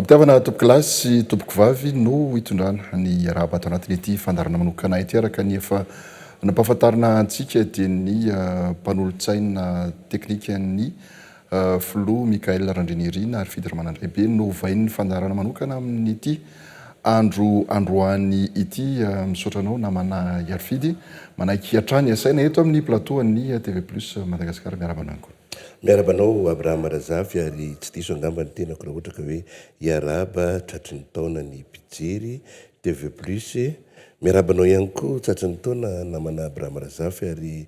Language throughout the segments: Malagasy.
Ampitiavana tompokolahy sy tompokovavy no hitondrana ny arahaba ato anatin'ity fandarana manokana ity araka ny efa nampahafantarina antsika dia ny ah, mpanolotsaina teknikan'ny Filoha Michaël Randrianirina ary Fidy Ramanandraibe novain'ny fandaharana manokana amin'ity andro androany ity. Misaotra anao namana Hiarifidy. Manaiky hatrany hasaina eto amin'ny plateau an'ny TV Plus Madagascar. Miarahaba anao koa. Miarahaba anao Abraham Razafy ary tsy diso angamba ny tenako raha ohatra ka hoe hiarahaba tratry ny taona ny mpijery TV plus, miarahaba anao ihany koa tratry ny taona namana Abraham Razafy ary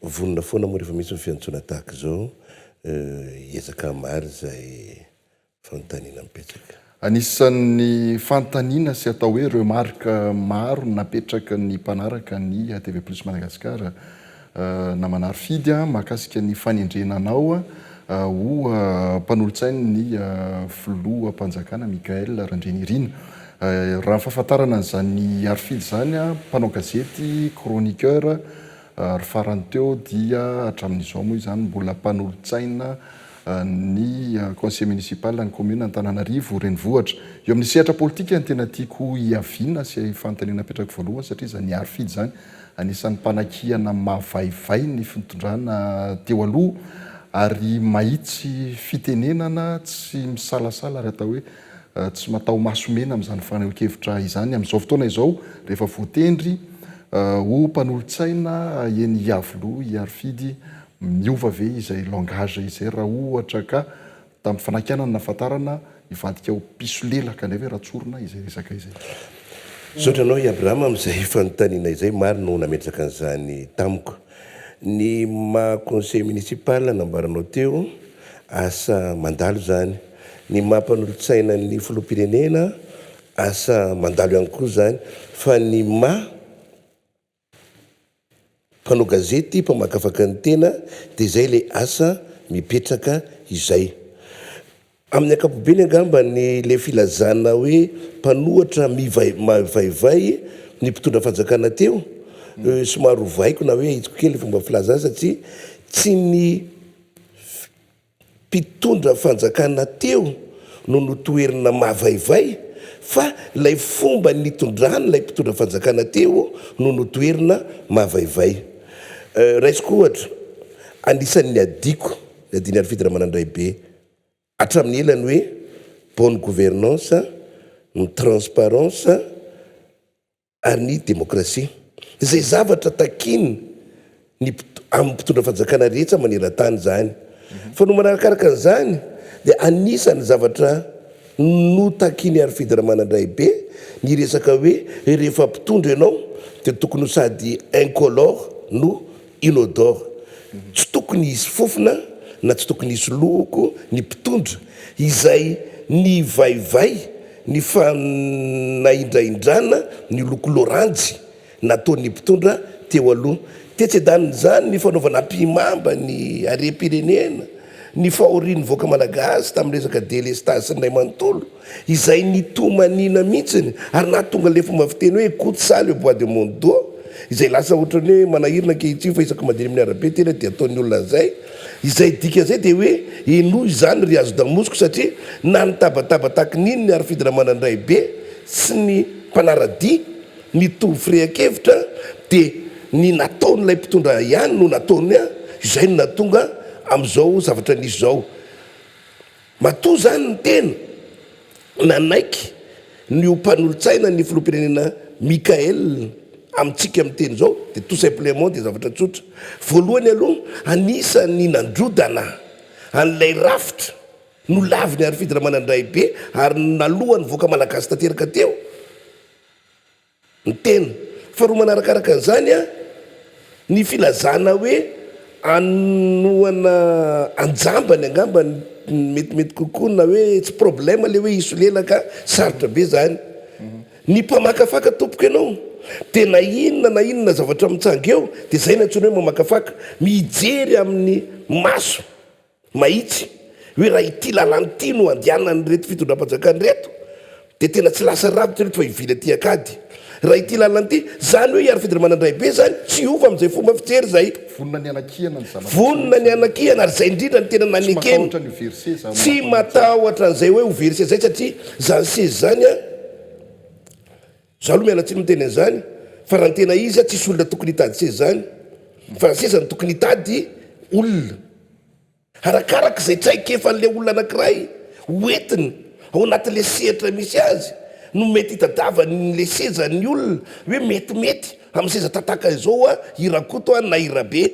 vonona foana moa rehefa misy ny fiantsoana tahaka izao hiezaka hamaly izay fanontaniana mipetraka. Anisan'ny fanontaniana sy atao hoe remarque maro napetraky ny mpanaraka ny TV plus Madagascar Namana Arfidy a, mahakasika ny fanendrena anao ho mpanolotsain' ny Filoham-panjakana Michaël Randrianirina. Raha ny fahafantarana an'izany Arfidy izany a, mpanao gazety, chroniqueur, ary farany teo dia hatramin'izao moa izany mbola mpanolotsaina ny Conseiller Municipal ny Commune Antananarivo Renivohitra. Eo amin'ny sehatra politika no tena tiako hiaviana sy fanontaniana apetrako voalohany satria izany Arfidy izany Anisan'ny mpanakihana mavaivay ny fintondrana teo aloha ary mahitsy fitenenana tsy misalasala ary atao hoe tsy mataho-maso mena amin'izany fanehoan-kevitra izany amin'izao fotoana izao rehefa voatendry ho mpanolotsaina eny Iavoloha i Harifidy miova ve izay langage izay raha ohatra ka Tamin'ny fanakianana nahafantarana hivadika ho mpisolelaka indray ve Ratsorona izay resaka izay? Misaotra anao i Abraham amin'izay fanontaniana izay, maro no nametraka an'izany tamiko. Ny maha conseil municipal nambaranao teo, asa mandalo izany. Ny maha mpanolotsaina ny filoham-pirenena, asa mandalo ihany koa izany. Fa ny maha. Mpanao gazety mpamakafaka ny tena dia izay ilay asa mipetraka izay. Amin'ny ankapobeny angamba ny ilay filazana hoe mpanohatra mivaivay ny mpitondra fanjakana teo, somary ovaiko na hoe ahitsiko kely ny fomba filaza azy satria tsy ny. Mpitondra fanjakana teo no notoherina mavaivay fa ilay fomba nitondrany ilay mpitondra fanjakana teo no notoherina mavaivay. Raisiko ohatra, anisan'ny niadiako, ny adin'i Harifidy Ramanandraibe, hatramin'ny ela ny hoe bonne gouvernance, ny transparence, an'ny demokrasia, izay zavatra takian'ny amin'ny mpitondra fanjakana rehetra maneran-tany izany. Fanomana arakaraka an'izany dia anisan'ny zavatra notakian'i Arifedy Ramanandraibe ny resaka hoe rehefa mpitondra ianao dia tokony ho sady incolore no Inodore. Tsy tokony hisy fofona na tsy tokony hisy lohoko ny mpitondra izay nivaivay ny fanahindrahindrana ny loko loranjy nataon'ny mpitondra teo aloha. Tetsy an-danin'izany ny fanaovana ampihimamba ny harem-pirenena. Ny fahorian'ny vahoaka malagasy tamin'ny resaka delestazy sy ny ray manontolo izay nitomaniana mihitsiny ary nahatonga ilay fomba fiteny hoe écoute ça le bois de mon dos izay lasa ohatran'ny hoe manahirana ankehitriny fa isaky mandeha eny amin'ny arabe tena dia ataon'ny olona an'izay izay dikan'izay dia hoe henoy izany ry hazodamosiko satria na nitabataba tahaky ny inona ary fidiramanandraibe sy ny mpanaradia Nitovy firehan-kevitra dia ny nataon'ilay mpitondra ihany no nataony an, izay no nahatonga amin'izao zavatra nisy izao. Matoa izany ny tena nanaiky ny ho mpanolotsaina ny filoham-pirenena Mickael amintsika miteny izao dia tout simplement dia zavatra tsotra. Voalohany aloha anisan'ny nandrodana an'ilay rafitra nolaviny Harifidy Ramanandraibe ary nalohan'ny vahoaka malagasy tanteraka teo, ny tena. Faharoa manarakaraka an'izany, ny filazana hoe anohana anjambany angamba no metimety kokoa na hoe tsy problème ilay hoe hisolelaka, sarotra be izany. Ny mpamakafaka tompoko ianao dia na inona na inona zavatra mitsanga eo dia izay no antsoina hoe mamakafaka, mijery amin'ny maso. Mahitsy, hoe raha ity lalana ity no andehanan'ireto fitondram-panjakana ireto, dia tena tsy lasa rava ireto fa hivily aty ankady. Raha ity lalana ity, izany hoe i Harifidy Ramanandraibe izany tsy hiova amin'izay fomba fijery izay. Vonona ny hanakihana ny zavatra tsy mety. Vonona ny hanakihana, ary izay indrindra no tena nanekeny. Tsy matahotra ny ho verse za. Tsy matahotra an'izay hoe ho verse izay satria izany seza izany an. Za aloha miala tsiny miteny an'izany fa raha ny tena izy tsisy olona tokony hitady seza izany fa seza no tokony hitady olona arakaraka izay traikefan'ilay olona anankiray ho entiny ao anatin'ilay sehatra misy azy no mety hitadiavan'ilay seza ny olona hoe metimety amin'ny seza tataka izao a i Rakoto a na i Rabe.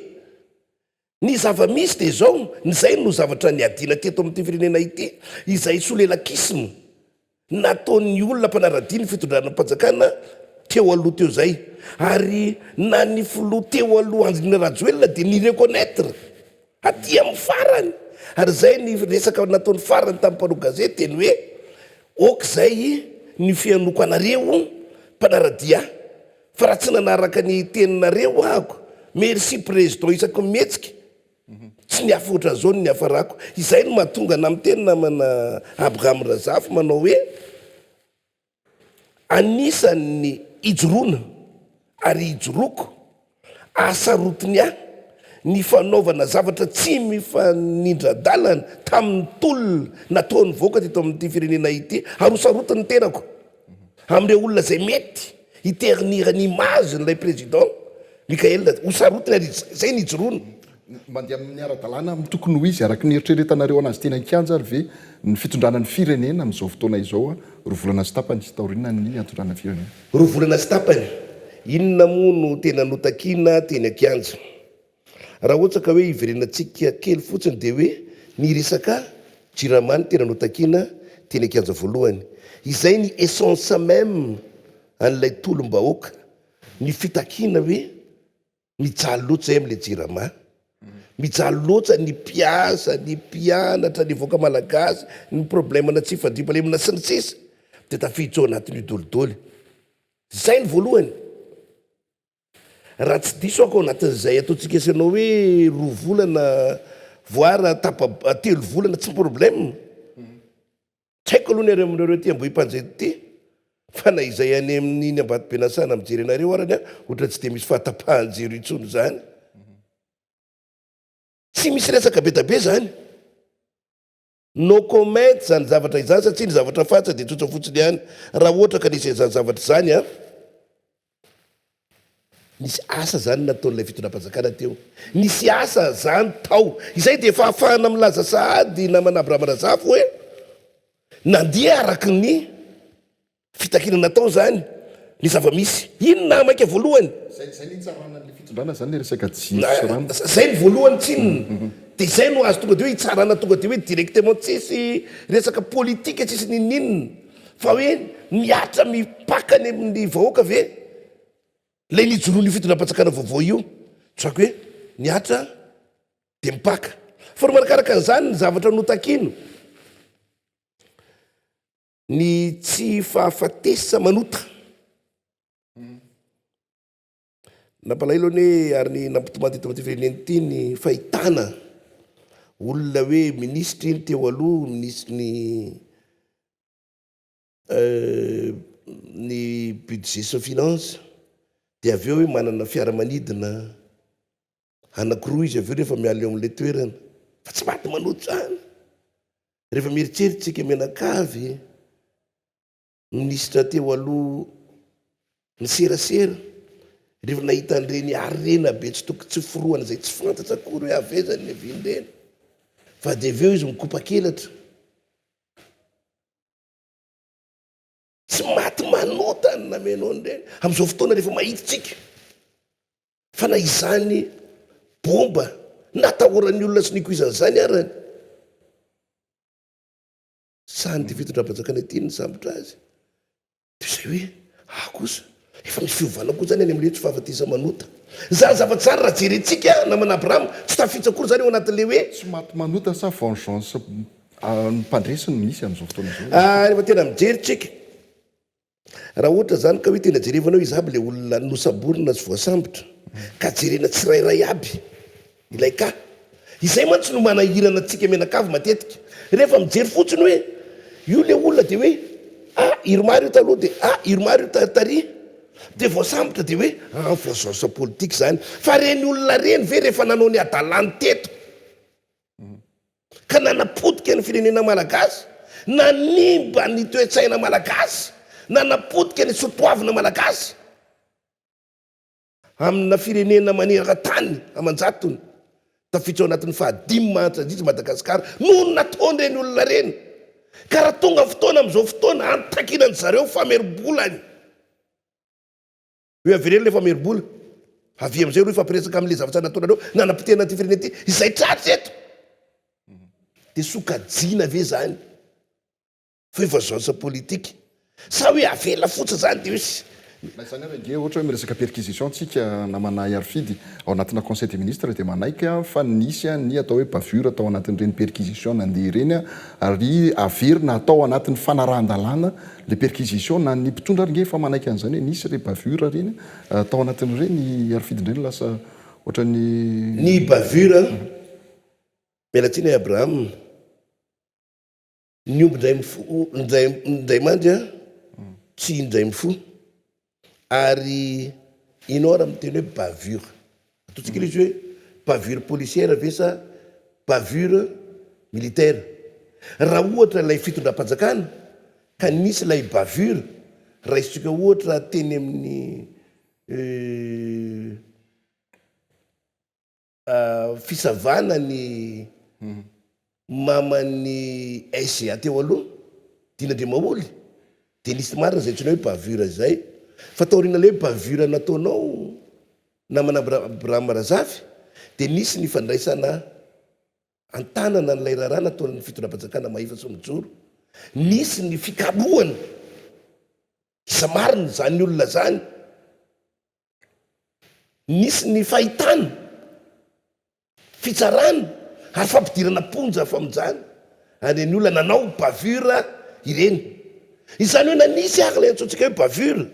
Ny zava-misy dia izao, izay no zavatra niadiana teto amin'ity firenena ity, izay solelakisma nataon'ny olona mpanara-dia ny fitondranam-panjakana teo aloha teo izay. Ary na ny filoha teo aloha Andriana Rajoelina dia ni-reconnaitre aty amin'ny farany, ary izay ny resaka nataony farany tamin'ny mpanao gazety dia ny hoe, ok izay ny fihainoako anareo mpanara-dia. Fa raha tsy nanaraka ny teninareo ahako merci président isaky ny mihetsika tsy niafy otran'izao ny niafarako izay no mahatonga anah miteny namana Abraham Razafy manao hoe anisan'ny ijoroana ary ijoroako ahasarotiny ahy ny fanaovana zavatra tsy mifanindradalana tamin'ny tolona nataon'ny vahoaka teto amin'ity firenena ity ary hosarotiny ny tenako Amin'ireo olona izay mety hi ternir ny image n'ilay Président Mickaël, ho sarotiny ary izay no hijoroany. Mandeha amin'ny ara-dalàna amin'ny tokony ho izy araka ny eritreretanareo anazy teny an-kianja ary ve ny fitondrana ny firenena amin'izao fotoana izao roa volana sy tapany taorianan'ny niantondrana ny firenena? Roa volana sy tapany? Inona moa no tena notakina teny an-kianja? Raha ohatra ka hoe iverenantsika kely fotsiny dia hoe ny resaka jirama no tena notakiana teny an-kianja voalohany. Izay ny essence même an'ilay tolom-bahoaka, ny fitakiana hoe mijaly loatra izahay amin'ilay jirama, mijaly loatra ny mpiasa, ny mpianatra, ny vahoaka malagasy, ny problème ana tsy fandriampahalemana sy ny sisa dia tafiditra ao anatin'io dolidoly. Izay ny voalohany. Raha tsy diso aho ka ao anatin'izay ataontsika sy ianao hoe roa volana voir tapa telo volana tsy problème. Tsy haiko aloha ny any aminareo aty Ambohimpanjety aty fa na izay any amin'iny Ambatobe Nasana mijery anareo arany a ohatran'ny tsy dia misy fahatapahan-jiro intsony izany. Tsy misy resaka be dia be izany. No comment izany zavatra izany satsia ny zavatra faritra dia tsotra fotsiny ihany raha ohatra ka nisy izany zavatra izany an! Nisy asa izany nataon'ilay fitondram-panjakana teo. Nisy asa izany tao. Izay dia efa ahafahana milaza sahady namana Abraham Razafy hoe nandeha araka ny. Fitakiana natao izany ny zava-misy. Inona maika voalohany? Zay zay ny hitsarana an'ilay fitondrana zany le resaka jiro sy rano. Zay ny voalohany tsinona de zay no azo tonga de hoe hitsarana tonga de hoe directement tsisy resaka politika tsisy ninoninona fa hoe mihatra mipaka any amin'ny vahoaka ve lay nijoroan'io fitondram-panjakana vaovao io tsako hoe mihatra de mipaka fa ro manakaraka an'izany ny zavatra notakina Ny tsy fahafatesa manota. Nampalahelo anie ary ny nampitomany teto amin'ity firenena ity ny fahitana olona hoe minisitra iny teo aloha, minisitry ny euh, ny budget sy ny finances dia avy eo hoe manana fiaramanidina Anakiroa izy avy eo rehefa miala eo amin'ilay toerana. Fa tsy maty manoatra izany. Rehefa mieritreritra isika mianakavy, minisitra teo aloha niserasera, rehefa nahita an'ireny harena be tsy tokony tsy forohana izay tsy fantatra akory hoe avy aiza ny levian'ireny. Fa dia avy eo izy mikopakelatra. Tsy maty manota ny namenao an'ireny. Amin'izao fotoana rehefa mahita isika fa na izany bomba natahoran'ny olona sy nikoizany izany arany, sahan'ity fitondram-panjakana ity ny nisambotra azy, dia izay hoe, aho kosa. Efa misy fiovana koa izany any amin'ilay hoe tsy fahafatesa-manota. Izany zavatra izany raha jerentsika namana Abrahama, tsy tafiditra akory izany eo anatin'ilay hoe. Tsy maty manota sa vengeance an'ny mpandresy no misy amin'izao fotoana izao e. Rehefa tena mijery tsika, raha ohatra izany ka hoe tena jerevana hoe iza aby ilay olona nosamborina sy voasambotra, ka jerena tsirairay aby. Ilay ka. Izay mantsy no manahirana antsika mianakavy matetika. Rehefa mijery fotsiny hoe io ilay olona dia hoe ah Irma ry io taloha dia ah Irma ry io tary dia voasambotra dia hoe ah voazaoza politika izany. Fa ireny olona ireny ve rehefa nanao ny hadalany teto ka nanapotika ny firenena malagasy, nanimba ny toe-tsaina malagasy, nanapotika ny soatoavina malagasy, Amina firenena manerantany aman-jatony, tafiditra ao anatin'ny fahadimy mahantra indrindra i Madagasikara noho ny nataon'ireny olona ireny, ka raha tonga fotoana amin'izao fotoana hanitankinan-dry zareo famerim-bolany, hoe avereno ilay famerim-bola, avia amin'izay ireo hifampiresaka amin'ilay zavatra nataonareo nanapotehana an'ity firenena ity, izay tratra eto, dia sokajiana ve izany? Fa io vengeance politique. Sa hoe avela fotsiny zany dia io sy. Na izany ary ange ohatra hoe miresaka perquisition tsika namana Hiarifidy ao anatina conseil des ministres dia manaiky aho fa nisy ny atao hoe bavure tao anatin'ireny perquisition nandeha ireny ary averina atao anatin'ny fanarahan-dalàna le perquisition na ny mpitondra ary nge efa manaiky an'izany hoe nisy re bavure ireny tao anatin'ireny Hiarifidy indray no lasa ohatran'ny Ny bavure, miala tsiny Abraham, Ny omby indray mifoha, indray, indray mandry an, tsy indray mifoha. Ary i Nora miteny hoe bavure. Ataontsika ilay izy hoe bavure policière ve sa bavure militaire. Raha ohatra ilay fitondram-panjakana ka nisy ilay bavure, raisintsika ohatra teny amin'ny Fisavana ny maman'i SGA teo aloha, Dina Demaholy, dia nisy marina izay antsoinao hoe bavure izay. Fa taorian'ilay hoe bavure nataonao namana Abraham Razafy dia nisy ny fandraisana an-tanana an'ilay raharaha nataon'ny fitondram-panjakana Mahefa Soa Mijoro. Nisy ny fikarohana iza marina izany olona izany. Nisy ny fahitana, fitsarana ary fampidirana am-ponja famonjana an'ireny olona nanao bavure ireny. Izany hoe na nisy ary ilay antsointsika hoe bavure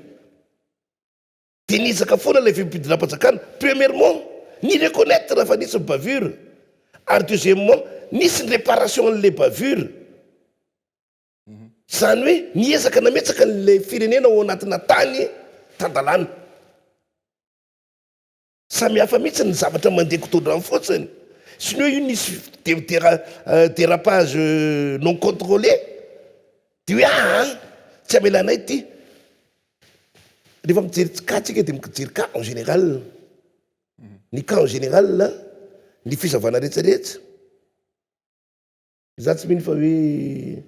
dia niezaka foana ilay fimpidinam-panjakana, premièrement, ni-reconnaitre fa nisy ny bavure ary deuxièmement, nisy ny réparation an'ilay bavure. Izany hoe miezaka nametsaka ilay firenena ao anatina tany tan-dalàna. Samy hafa mihitsy ny zavatra mandeha godrodrano fotsiny. Tsy ny hoe io nisy dérapage non contrôlé dia hoe aa tsy hamela anay ity. Rehefa mijery cas tsika dia mijery cas en général. Ny cas en général, ny fisavana rehetra rehetra. Za tsy mino fa hoe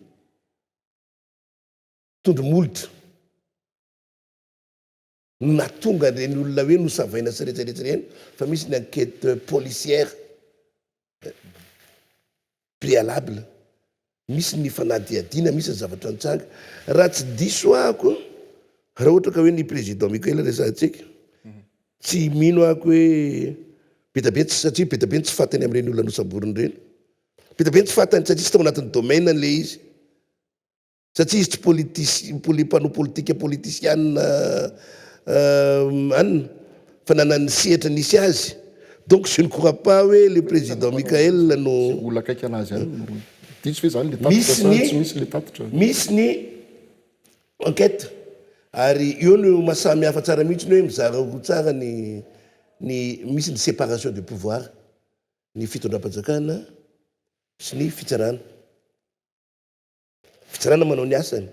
tondro molotra no nahatonga ireny olona hoe nosavaina sy rehetrarehetra ireny fa misy ny enquête policière eh, préalable, misy ny fanadihadiana, misy ny zavatra nitsanga. Raha tsy diso ahako, raha ohatra ka hoe ny président Michael resahantsika, tsy mino ahako hoe be dia be tsy satria be dia be ny tsy faty any amin'ireny olona nosamboriny ireny. Be dia be ny tsy fantany satria tsy tao anatin'ny domaine an'ilay izy. Satria izy tsy politisi- poli- mpanao politika politisiana anona fa nanan'ny sehatra nisy azy. Donc je ne crois pas hoe le président Mickaël no. Izay olona akaiky anazy ihany no diso ve izany le tatitra Misy sa ny tsy misy le tatitra? misy ny enquête ary eo no mahasamy hafa tsara mihitsy ny hoe mizara roa tsara ny ny misy ny séparation de pouvoir. ny fitondram-panjakana sy ny fitsarana. Fitsarana manao ny asany,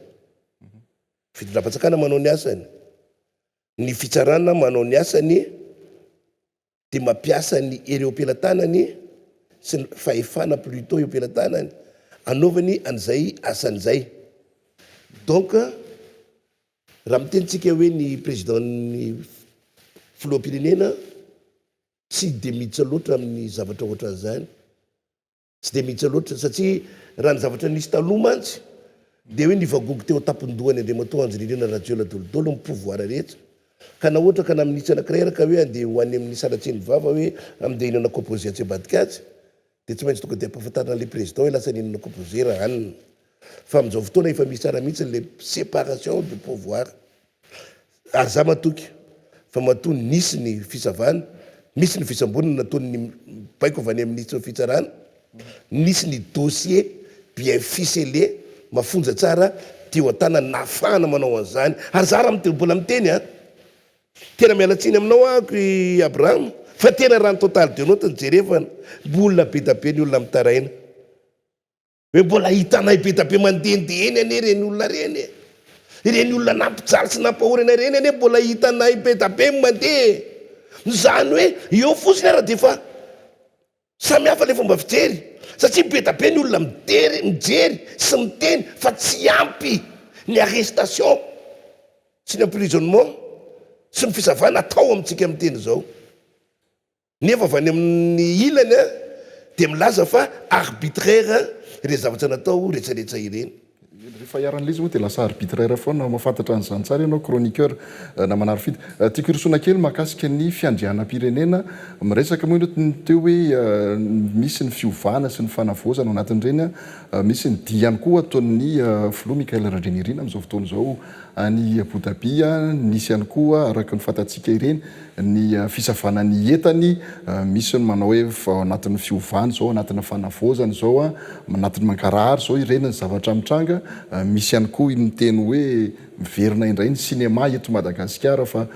fitondram-panjakana manao ny asany, ny fitsarana manao ny asany dia mampiasa ny hery eo am-pelatanany sy ny fahefana plutot eo am-pelatanany anaovany an'izay asany izay. Donc raha mitenitsika hoe ny président-n'ny filoham-pirenena Tsy dia miditra loatra amin'ny zavatra ohatran'izany. Tsy dia miditra loatra satria raha ny zavatra nisy taloha mantsy dia hoe nivagogo teo an-tampon-dohany Andriamatoa Andry-Nirina Rajoelina Dolidolo ny pouvoir rehetra ka na ohatra ka na minitra anankiray ary ka hoe andeha ho any amin'ny sanatrian'ny vava hoe andeha hihinana composé atsy ambadika atsy Dia tsy maintsy tonga dia ampahafantarina an'ilay président hoe lasa n'inona koa bozera an! Fa amin'izao fotoana efa misy tsara mihitsy ilay séparation de pouvoir. Ary za matoky fa matoa nisy ny fisavana, misy ny fisambonana nataon'ny baiko avy any amin'ny fitsarana, nisy ny dossier bien ficelé, mafonja tsara, teo an-tanana nahafahana manao an'izany. Ary za raha mbola miteny an! Tena miala tsiny aminao aako i Abraham fa tena raha ny total de note no jerevana mbola bedabe ny olona mitaraina hoe mbola hitanay bedabe mandendeha eny anie ireny olona ireny e! ireny olona nampijaly sy nampahory anay ireny anie mbola hitanay bedabe mandeha e! izany hoe eo fotsiny ara dia efa Samy hafa le fomba fijery satria be da be ny olona midery, mijery sy miteny fa tsy ampy ny arrestation sy ny emprisonnement sy ny fisavana atao amintsika miteny zao nefa avy any amin'ny ilany dia milaza fa arbitraire le zavatra natao retraretra ireny. Rehefa iharan'ilay izy moa dia lasa arbitre iray foana, mahafantatra an'izany tsara ianao chroniqueur Namana Rofida. Tiako hirosoana kely mahakasika ny fiandrianam-pirenena, miresaka moa ianao ny teo hoe misy ny fiovana sy ny fanavaozana ao anatin'ireny, misy ny dihy ihany koa ataon'ny filoha Michaël Randrianirina amin'izao fotoana izao any Abu Dhabi, nisy ihany koa araka ny fantatsika ireny ny fisavana ny entany, misy ny manao hoe vao anatin'ny fiovana izao, anatin'ny fanavaozana izao, anatin'ny mangarahara izao ireny ny zavatra mitranga, misy ihany koa ny miteny hoe miverina indray ny cinéma eto Madagasikara fa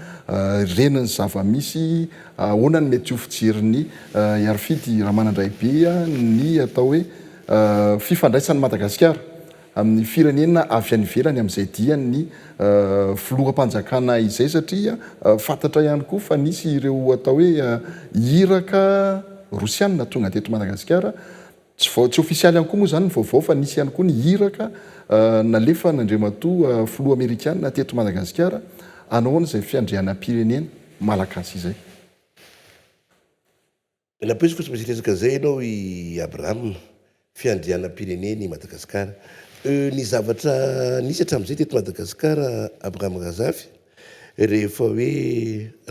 ireny ny zava-misy, ahoana ny mety ho fijerin'i Herifidy Ramanandraibe ny atao hoe fifandraisan'i Madagasikara. amin'ny firenena avy any ivelany amin'izay diany ny filoham-panjakana izay satria fantatra ihany koa fa nisy ireo atao hoe iraka rosianina tonga teto Madagasikara. Tsy vao tsy ofisialy ihany koa moa izany ny vaovao fa nisy ihany koa ny iraka nalefan'Andriamatoa filoha amerikana teto Madagasikara hanaoana izay fiandrianam-pirenena malagasy izay. Nampirisiko fa tsy maintsy hiresaka izay ianao i Abraham, fiandrianam-pireneny i Madagascar. Euh ny zavatra nisy hatramin'izay teto Madagascar Abraham Razafy, rehefa hoe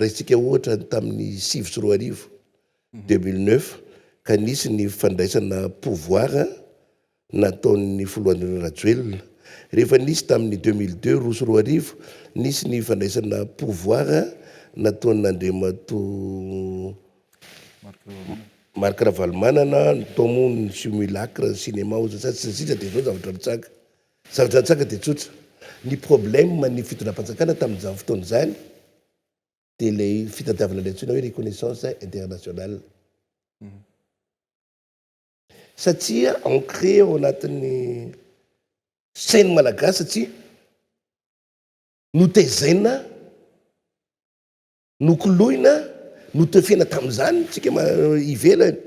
raisintsika ohatra ny tamin'ny sivy sy roa arivo, deux mille neuf, ka nisy ny fandraisana pouvoir nataon'ny Filohanirina Rajoelina. Rehefa nisy tamin'ny deux mille deux, roa sy roa arivo, nisy ny fandraisana pouvoir nataon'Andriamatoa Marc Ravalomanana, tao moa ny simulacre, ny cinéma oza sa sy ny sisa dia izao zavatra nitsanga. Zavatra nitsanga dia tsotra. Ny problème ny fitondram-panjakana tamin'izany fotoana izany dia ilay fitadiavana ilay antsoina hoe reconnaissance internationale. Satria ancré ao anatin'ny sain'ny Malagasy satria notezaina, nokoloina, notefena tamin'izany isika ivelany,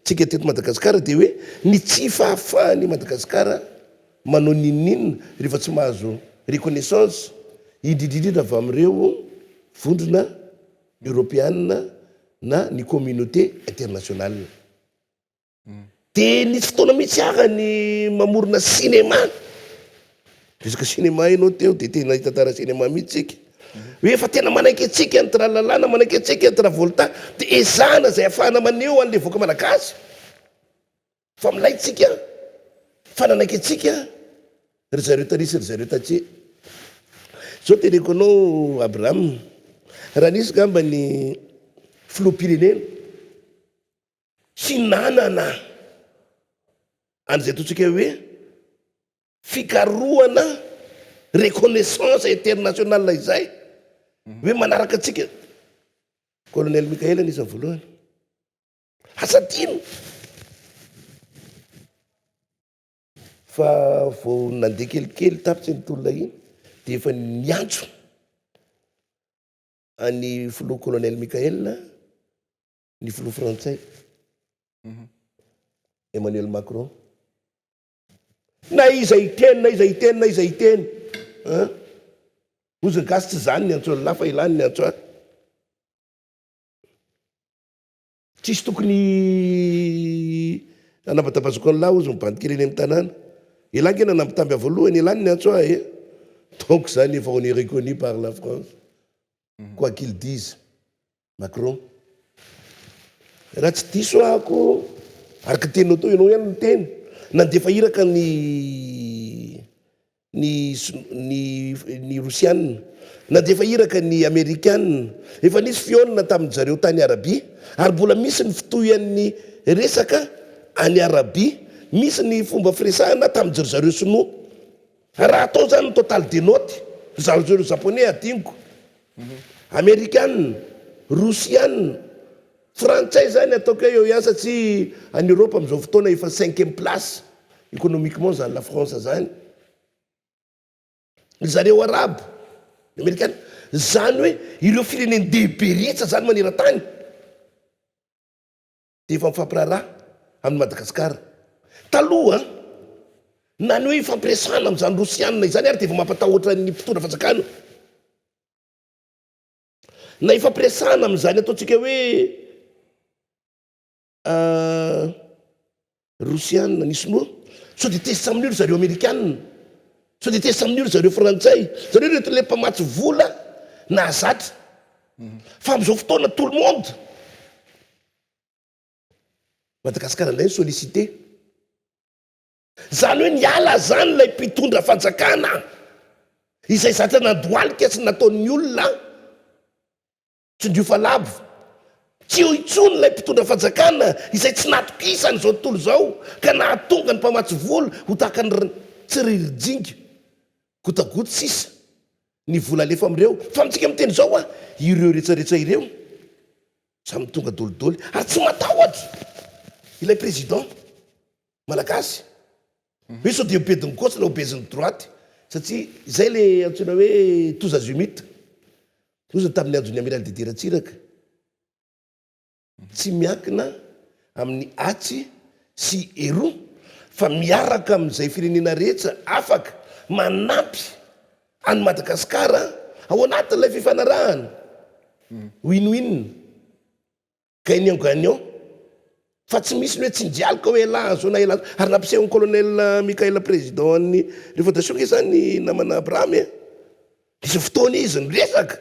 isika teto Madagasikara dia hoe ny tsy fahafahan'i Madagasikara manao n'inon'inona rehefa tsy mahazo reconnaissance, indrindra indrindra avy amin'ireo vondrona eoropeana na ny communauté internationale. Dia nisy fotoana mihitsy aza ny mamorona cinéma, resaka cinéma ianao teo dia tena hitantara cinéma mihitsy isika. Hoe efa tena manaiky antsika ny tralala na manaiky antsika ny travolta dia ezahana izay hahafahana maneho an'ilay vahoaka malagasy fa milay tsika, fa nanaiky antsika ry zareo taloha sy ry zareo tatsy. Izao teneniko anao Abraham, raha nisy angamba ny filoham-pirenena, Tsy nanana an'izay ataontsika hoe fikarohana reconnaissance internationale izay hoe manaraka antsika. Colonel Mickael anisan'ny voalohany. Asa tiany fa vao nandeha kelikely tapitra iny tolona iny dia efa niantso an'i filoha Colonel Mickael ny filoha frantsay Emmanuel Macron. Na iza hiteny, na iza hiteny, na iza hiteny. Hozy ny gasy tsy izany ny antso an'lah fa ilany ny antso ahy. Tsisy tokony hanavadavazoko an'lah hozy ny bandikely eny amin'ny tanàna. Elah nge nanambitamby ahy voalohany, elany ny antso ahy e. Donc zany efa on est reconnu par la France. Quoi qu'il dise. Macron. Raha tsy diso ahako, araka ny teninao teo, ianao ihany no niteny, nandefa iraka ny ny ny ny Rosiana, nandefa iraka ny Amerikana, efa nisy fihaonana tamin-dry zareo tany Arabia, ary mbola misy ny fitohian'ny resaka any Arabia, misy ny fomba firesahana tamin-dry zareo Sinoa. Raha atao izany ny total des notes zarizao ireo Japonais hadinoko, Amerikana, Rosiana, Frantsay izany ataoko hoe eo ihany satria any Europe amin'izao fotoana efa cinquième place économiquement izany la France izany, ry zareo Arabo, ny Amerikana, izany hoe ireo firenen-dehibe ritra izany maneran-tany. dia efa mifampiraharaha amin'i Madagasikara. Taloha, na ny hoe ifampiresahana amin'izany Rosiana izany ary dia efa mampatahotra ny mpitondra fanjakana. Na ifampiresahana amin'izany ataontsika hoe Rosiana ny Sinoa? Sao dia tezitra amin'io ry zareo Amerikana? Sao dia tezitra amin'io ry zareo Frantsay? Zareo ireto ilay mpamatsy vola nahazatra. Fa amin'izao fotoana tout le monde Madagasikara indray no sollicité. Izany hoe niala izany ilay mpitondra fanjakana izay zatra nandohalika sy nataon'ny olona Tsindrio fa labo. Tsy eo intsony ilay mpitondra fanjakana izay tsy natokisany izao tontolo izao ka nahatonga ny mpamatsy vola ho tahaka ny tsiririjinga, gotagoty sisa ny vola alefa amin'ireo, fa amintsika miteny izao hoa ireo iretraretra ireo samy tonga dolidoly ary tsy matahotra ilay président malagasy. Hoe sao dia obedin'ny gauche na obezin'ny droite satria izay ilay antsoina hoe tous azimuts nohozany tamin'ny andron'ny Amiral Didier Ratsiraka. Tsy miankina amin'ny atsy sy eroa fa miaraka amin'izay firenena rehetra afaka manampy an'i Madagasikara ao anatin'ilay fifanarahana win-win. Gagnant gagnant fa tsy misy ny hoe tsinjaloka hoe elah azona elah azona ary nampisehon'i colonel Mickael président ny révoltation nge zany i namana Abraham e nisy fotoana izy niresaka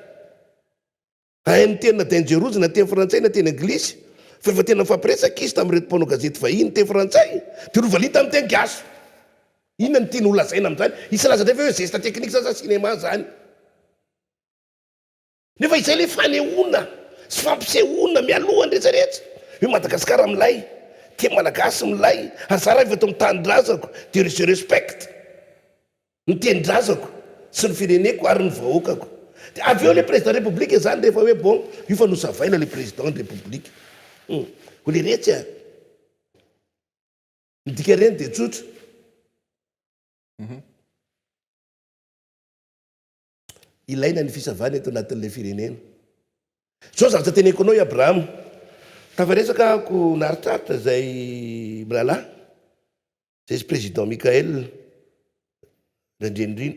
hahay miteny na dangerous na teny frantsay na teny anglisy fa efa tena nifampiresaka izy tamin'ireto mpanao gazety vahiny teny frantsay dia novaliny tamin'ny teny gasy inona no tiany holazaina amin'izany hisy hilaza indray ve hoe zesta technique zany sa cinéma zany Nefa izay ilay fanehoana sy fampisehoana mialoha ny rehetra rehetra hoe Madagasikara milay, tia Malagasy milay ary za raha avy eto amin'ny tanindrazako dia je respecte ny tenindrazako sy ny fireneko ary ny vahoakako dia avy eo ilay président république zany rehefa hoe bon io fa nosavaina ilay président ny république hum ho leretsy a ny dika reny dia tsotra. Ilaina ny fisavana eto anatin'ilay firenena. Izao zavatra teneniko anao i Abrahama, tafaresaka ahako naharitraritra izay mirahalahy, izay izy Président Michaël Randrianirina,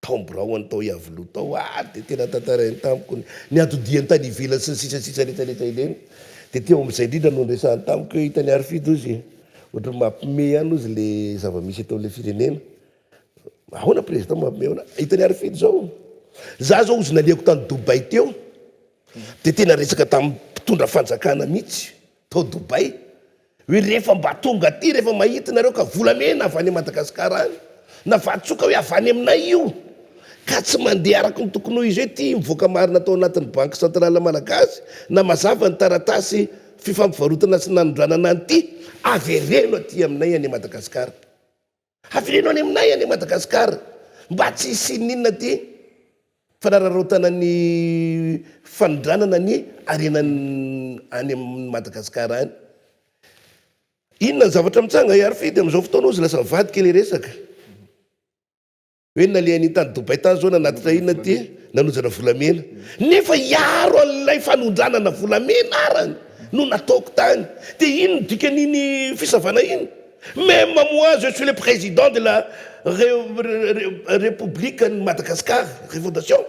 tao biraony tao Iavoloha tao ary dia tena tantarainy tamiko ny niatodiany tany ivelany sy ny sisa sisa rehetra rehetra ireny. Dia teo amin'izay indrindra no niresahany tamiko hoe hitany ary Fido ozy e, ohatran'ny mampime ihany ozy le zava-misy eto amin'ilay firenena. Ahoana président mamehona hitany Arifin zao? Za zao ozy nalehako tany Dubai teo de tena resaka tam mpitondra fanjakana mitsy tao Dubai oe refa mba tonga aty refa mahita nareo ka volamena avy any Madagascar any na vatsoka oe avy any aminay io ka tsy mandeha araky ny tokony ho izy oe ty mivoaka marina tao anatiny banky centrale malagasy na mazava ny taratasy fifampivarotana sy nanondranana anty avereno aty aminay any Madagascar. Havereno any aminay anie Madagascar mba tsy hisian'inona ty fanararaotana ny fanondranana ny harena any amin'i Madagascar any. Inona ny zavatra mitsanga i Arfidy amin'izao fotoana hozy lasa mivadika ilay resaka. Hoe nalehany tany Dubai tany zao nanatitra inona ty nanonjana volamena nefa hiaro an'ilay fanondranana volamena arany no nataoko tany dia ino ny dikan'iny fisavana iny même moi je suis le président de la République an'i Madagascar refondation.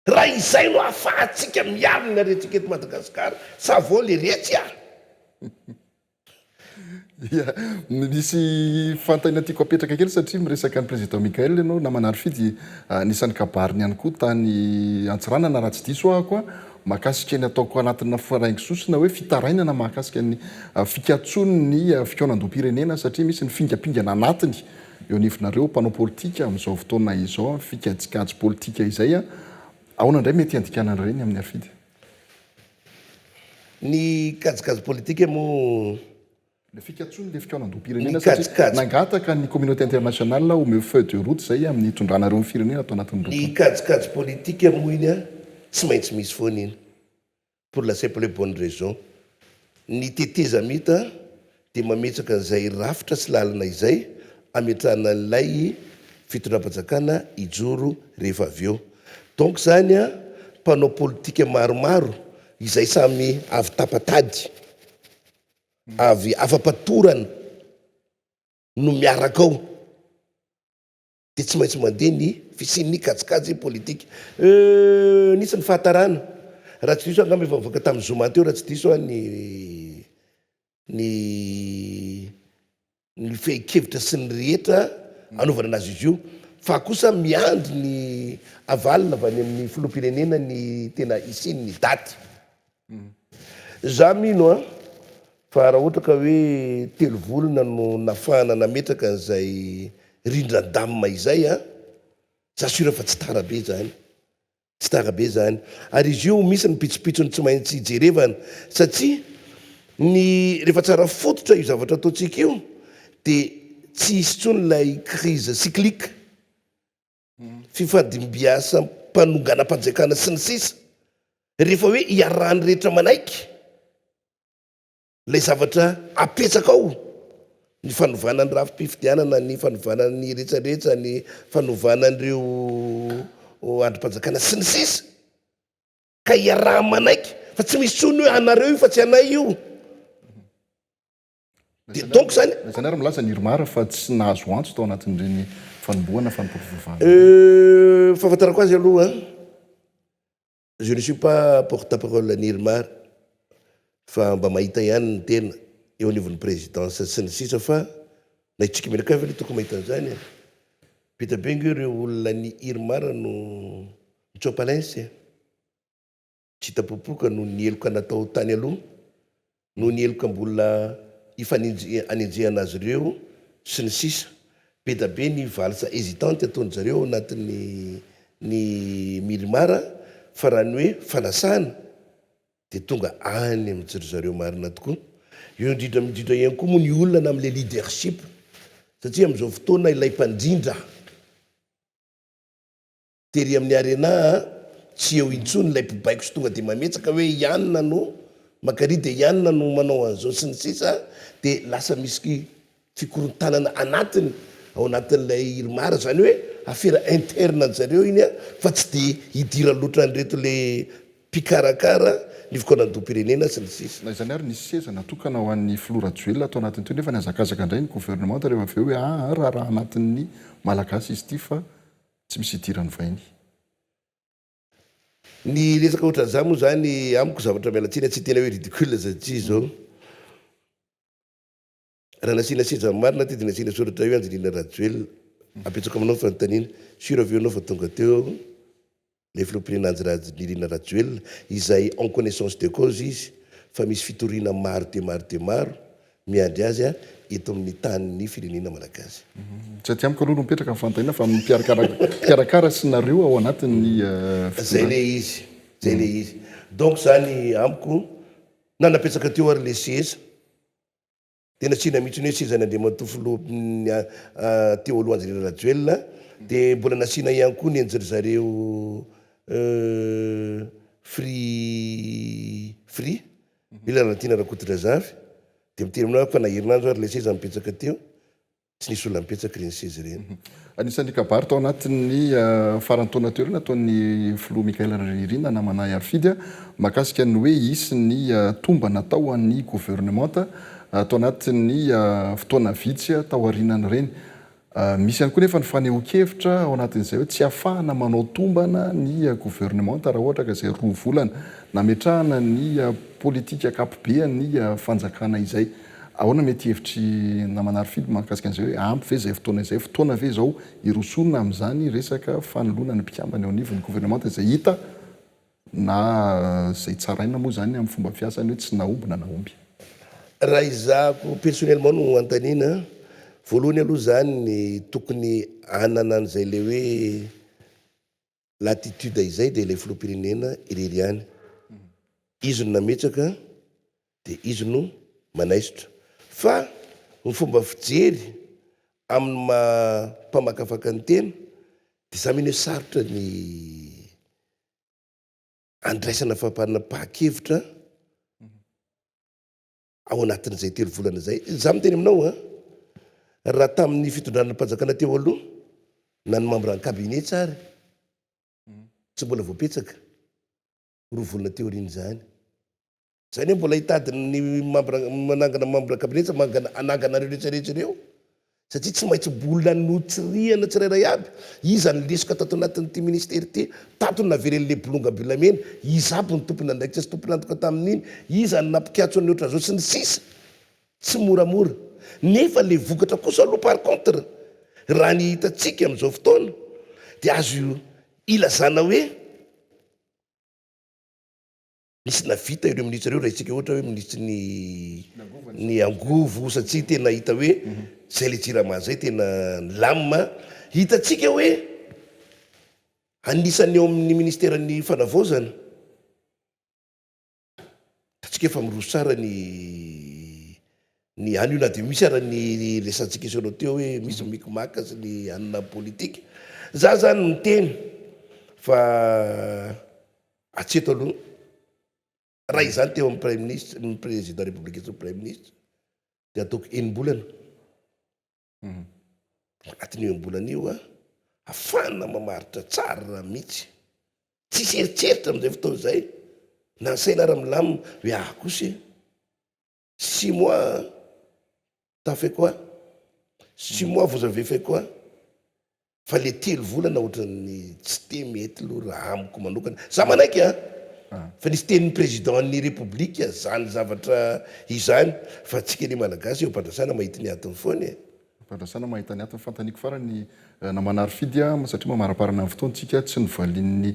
Raha izay no ahafahantsika miaro ny aretintsika eto Madagasikara, ça vaut le retsy ah! Ia, misy fantany tiako apetraka kely satria miresaka an'i Président Mickaël ianao, namana Arfi dia anisan'ny kabariny ihany koa tany Antsiranana raha tsy diso aho ko, mahakasika ny ataoko anatina faraingo sosona hoe fitarainana mahakasika ny fikatsoan'ny fikaonandoham-pirenena satria misy ny fingampingana anatiny Eo anivonareo mpanao politika amin'izao fotoana izao fikajikajy politika izay, ahoana indray mety hiandikanana ireny amin'ny afidy? Ny kajikajy politika moa. Ilay fikatsoana ilay fikaonandoham-pirenena satria nangataka ny communauté internationale omeo feuille de route izay amin'ny hitondranareo ny firenena ato anatin'ny roa taona. Ny kajikajy politika moa iny tsy maintsy misy foana iny. pour la simple et bonne raison, ny tetezamita dia mametraka an'izay rafitra sy lalana izay ametrahana an'ilay fitondram-panjakana hijoro rehefa avy eo. Donc izany mpanao politika maromaro izay samy avy tapa-tady, avy afa-patorana no miaraka ao. dia tsy maintsy mandeha ny fisian'ny kajikajy politika euh nisy ny fahatarana raha tsy diso aho angamba efa nivoaka tamin'ny zoma teo raha tsy diso aho ny ny ny fehin-kevitra sy ny rehetra anaovana anazy izy io fa kosa miandry ny avalona avy any amin'ny filoham-pirenena ny tena hisian'ny daty Za mino an, fa raha ohatra ka hoe telo volana no nafahana nametraka an'izay rindran-damina izay an, za sûr fa tsy tara be zany, tsy tara be zany. Ary izy io misy ny pitsopitsony tsy maintsy jerevana satsia ny rehefa tsara fototra io zavatra ataontsika io dia tsy hisy intsony ilay crise cyclique. fifadimbiasam-panonganam-panjakana sy ny sisa Rehefa hoe iarahan'ny rehetra manaiky ilay zavatra apetraka ao, ny fanovana ny rafi-pifidianana, ny fanovana ny retraretra, ny fanovana an'ireo andrim-panjakana sy ny sisa ka iaraha-manaiky fa tsy misy intsony hoe anareo io fa tsy anay io. Dia donc zany. Na izany ary milaza ny Irmar fa tsy nahazo antso tao anatin'ireny fanombohana fanompoam-pivavahana. Euh, fahafantarako azy aloha je ne suis pas porte parole an'i Irmar fa mba mahita ihany ny tena eo anivon'ny présidence sy ny sisa fa na i Tsikimena kay ve aloha tokony mahita an'izany e! Be dia be ange ireo olona an'i Irmar no mitsoa-palens e! Tsy tapopoka noho ny heloka natao tany aloha, noho ny heloka mbola hifanenjehana azy ireo, sy ny sisa Be da be ny valse hésitante ataon-dry zareo ao anatin'ny ny Mirmar fa raha ny hoe fanasana dia tonga any amin-dry zareo marina tokoa. Eo indrindra indrindra ihany koa moa ny olana amin'ilay leadership satria amin'izao fotoana ilay mpandrindra, Tery amin'ny arena a! Tsy eo intsony ilay mpibaiko sy tonga dia mametsaka hoe i Anna no mankaria dia i Anna no manao an'izao sy ny sisa dia lasa misy fikorontanana anatiny ao anatin'ilay Irmar, izany hoe afera interne an-dry zareo iny a! fa tsy dia idiran'ny lotra an'ireto le mpikarakara ny fikaonandoham-pirenena sy ny sisa. Na izany ary nisy seza natokana ho an'ny filoha Rajoelina tao anatiny teo nefa nihazakazaka indray ny governemanta rehefa avy eo hoe aa raharaha anatin'ny Malagasy izy ity fa Tsy misy idiran'ny vahiny. Ny resaka ohatran'izany moa izany amiko zavatra miala tsiny tsy tena hoe ridicule satria izao raha nasiana seza marina aty dia nasiana soratra hoe Angelina Rajoelina. Apetsako aminao ny fanontaniana, sur ve ianao fa tonga teo ilay filoham-pirenena Anjirajnirina Rajoelina izay en connaissance de cause izy fa misy fitoriana maro dia maro dia maro Miandry azy aho eto amin'ny tanin'ny firenena malagasy. Tsy aty amiko aloha no mipetraka ny fanontaniana fa amin'ny mpikarakara sy nareo ao anatin'ny fitondrana. Zay le izy, zay le izy. Donc zany amiko na napetraka teo ary le seza de nasiana mihitsy ny hoe sezan'i Andriamatoa filoha teo aloha Andry Rajoelina de mbola nasiana ihany koa ny an'dry zareo free free. I Lalatiana Rakotodrazafy dia miteny aminao fa na herinandro ary ilay seza nipetsaka teo, tsy nisy olona nipetsaka ireny seza ireny. Anisan'ny kabary tao anatin'ny faran'ny taona teo ireo nataon'ny filoha Michaël Rajaonairina namanà Ahiafidy mahakasika ny hoe hisy ny tombana atao ho an'ny governemanta tao anatin'ny fotoana vitsy taorianan'ireny. Misy ihany koa nefa ny fanehoan-kevitra ao anatin'izay hoe tsy afahana manao tombana ny governemanta raha ohatra ka izay roa volana nametrahana ny politika ankapobean'ny fanjakana izay. Ahoana mety hevitry Ramanarifily mahakasika an'izay hoe ampy ve izay fotoana izay, fotoana ve izao hirosoana amin'izany resaka fanoloana ny mpikambana eo anivon'ny governemanta izay hita Na izay tsaraina moa izany amin'ny fomba fiasany hoe tsy nahomby na nahomby. Raha izahako personnellement no hanontaniana, voalohany aloha izany ny tokony hanana an'izay ilay hoe latitude izay dia ilay filoham-pirenena irery ihany. Izy no nametraka Dia izy no manaisotra. Fa ny fomba fijery amin'ny maha mpamakafaka ny tena dia za mino hoe sarotra ny andraisana fapanam-pahakevitra ao anatin'izay telo volana izay. Za miteny aminao an, raha tamin'ny fitondranam-panjakana teo aloha na ny membres en cabinet tsary tsy mbola voapetsaka. roa volana teo aoriana izany. Izay anie mbola hitady ny mambra manangana mambra kabinetsa mangana hanangana ireo rehetra rehetra ireo satria tsy maintsy mbola notsirihana tsirairay aby iza ny lesoka tato anatin'ity ministera ity tato ny naveren'ilay bolongam-bolamena iza aby ny tompon'andraikitra sy tompon'antoka tamin'iny iza ny nampikatso ny ohatran'izao sy ny sisa tsy moramora nefa ilay vokatra kosa aloha par contre raha ny hitantsika amin'izao fotoana dia azo ilazana hoe Misy navita ireo minisitra ireo raha isika ohatra hoe minisitry ny ny angovo satsia tena hita hoe zay le jirama zay tena nilamina hitatsika hoe anisan'ny eo amin'ny ministeran'ny fanavaozana Atsika efa miroso tsara ny ny anio na dia misy ara ny resantsika isanao teo hoe misy mm. mikimaka sy ny anina politika za zany miteny fa atseto aloha raha mm. izany teo amin'ny prime ministre ny président république sy ny prime ministre dia ataoko enimbolana Dia anatin'io enim-bolana io ahafahana mamaritra tsara mihitsy. Tsisy eritreritra amin'izay fotoana izay na ny saina ary milamina hoe ah kosa e. Six mois t'as fait quoi? Six mois vous avez fait quoi? Fa le telo volana ohatran'ny tsy te mety aloha raha amiko manokana. Za manaiky an! Fa nisy tenin'ny Président an'ny République zany zavatra izany fa antsika anie Malagasy eo am-pandrasana mahita ny antony foana e! Am-pandrasana mahita ny antony, fantaniako farany Ramanarifidy an! satria mamaramparana ny fotoantsika, tsy novalian'ny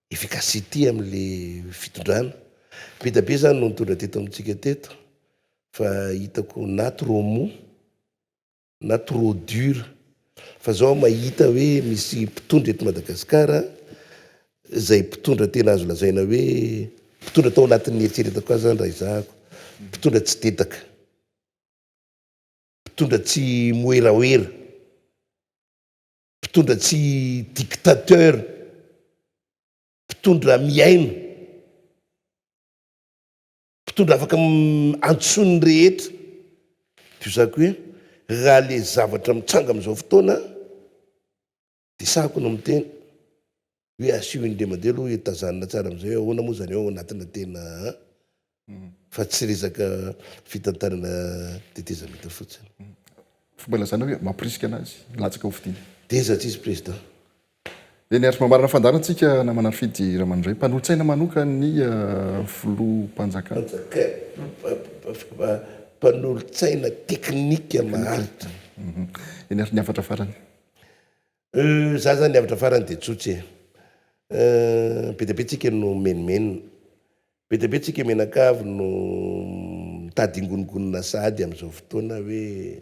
efficacity amle fitondrana, vita be zany no nitondra teto amintsika teto fa hitako na trop mou na trop dur fa zao aho mahita hoe misy mpitondra eto Madagascar zay mpitondra tena azo lazaina hoe mpitondra tao anatin'ny eritreretako azy zany raha ezahako, mpitondra tsy dedaka, mpitondra tsy moeraoera. Mpitondra tsy dictateur, mpitondra mihaino, mpitondra afaka antsoin'ny rehetra. Tohizako hoe raha le zavatra mitranga amin'izao fotoana dia sahako no miteny, Hoe asio indray mandeha aloha hitazanina tsara amizay hoe ahoana moa zany ao anatina tena an! Fa tsy resaka fitantanana tetezamita fotsiny. Fomba ilazana hoe mampirisika anazy hilatsaka ho fidiana. Tezatry izy Président. Eny ary, mamarana fandaharantsika namana Fidy Ramanondray, mpanolotsaina manokan' ny Filoham-panjakana. Panjakana, mpanolotsaina teknika maharitra. Eny ary, ny hafatra farany. Euh za zany avatra farany de tsotsy e euh be dia be tsika no menomenona, be dia be tsika mianakavy no mitady ingoningonina sahady amzao fotoana hoe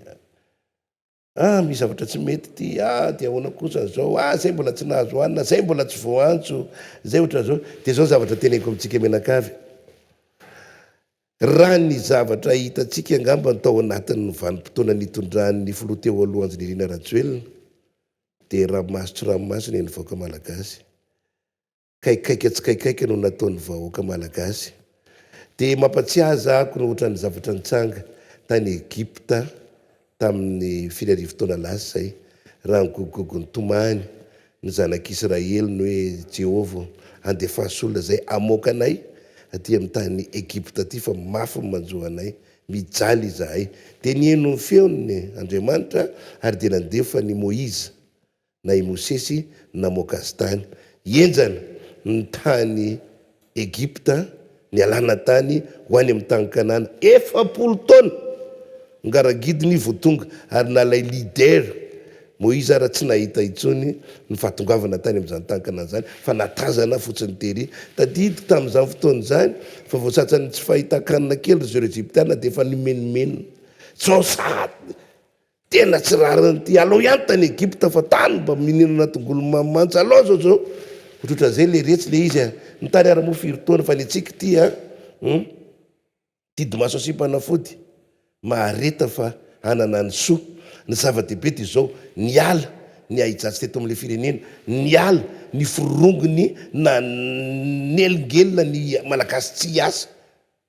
ah misy zavatra tsy mety ty ah de ahoana kosa zao ah zay mbola tsy nahazo hanina zay mbola tsy voaantso zay ohatranzao de zao zavatra teneniko amitsika mianakavy Raha ny zavatra hitantsika angamba ny tao anatin'ny vanim-potoana nitondran'ny filoha teo aloha Andrinirina Rajoelina dia ramaso tsy ramaso ny an'ny vahoaka malagasy. Kaikaika tsy kaikaika no nataon'ny vahoaka malagasy. Dia mampatsiahy aza ako ny ohatran'ny zavatra nitsanga tany Egypta Tamin'ny firy arivo taona lasa izay, raha nigogogogo nitomany ny Zanak'Isiraely ny hoe, Jehovah ô, andefaso olona izay hamoaka anay atỳ amin'ny tany Egypta atỳ, fa mafy ny manjo anay. Mijaly izahay. Dia niheno ny feony Andriamanitra, ary dia nandefa an'i Moizy na i Mosesy namoaka azy tany henjana ny tany Egypta nialana tany ho any amin'ny tany Kanana. Efapolo taona ngaragidiny vao tonga ary nalay leader Moïse ary tsy nahita intsony ny fahatongavana tany amin'izany tany Kanana izany fa natazana fotsiny tery. Tadidio tamin'izany fotoana izany fa vao sasany tsy fahitan-kanina kely ry zareo Egyptiana dia efa nimenomenona. Tsy ao sahady Tena tsy rarin'ity alou ihany tany Egypte fa tany mba mininana tongolo mamy mantsy alou zao zao otrotran'izay le retsy le izy a! Ny tany ary moa firy taona fa ny antsika ity a! Hum! Didimaso sy mpanafody mahareta fa hanana ny soa. Ny zava-dehibe dia izao, niala ny ahijatsy teto amin'ilay firenena, niala ny forongony nanelingelina ny Malagasy tsy hiasa.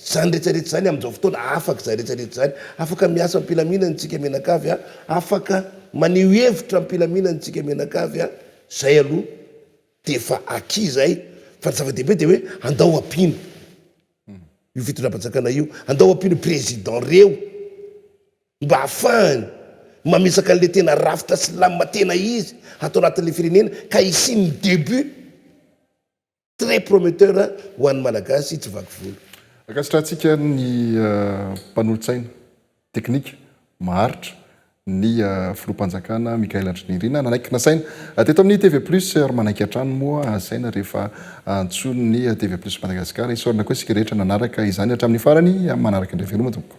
Izany rehetra rehetra izany amin'izao fotoana, afaka izany rehetra rehetra izany. Afaka miasa am-pilaminana isika mianakavy a, afaka maneho hevitra am-pilaminana isika mianakavy a, izay aloha dia efa acquis izay, fa ny zava-dehibe dia hoe andao ampiana io fitondram-panjakana io, andao ampiana io président reo mba hahafahany mamesaka an'ilay tena rafitra slam tena izy ato anatin'ilay firenena ka hisian'ny début. Très prometteur ho an'ny Malagasy tsy vaky volo. Ankasitrahantsika ny mpanolotsaina teknika maharitra, ny Filoham-panjakana Michaël Andry Nirina nanaiky nasaina teto amin'ny TV Plus ary manaiky hatrany moa hasaina rehefa antsoin'ny TV Plus Madagascar. Isaorana koa isika rehetra nanaraka izany hatramin'ny farany amin'ny manaraka indray veloma tompoko.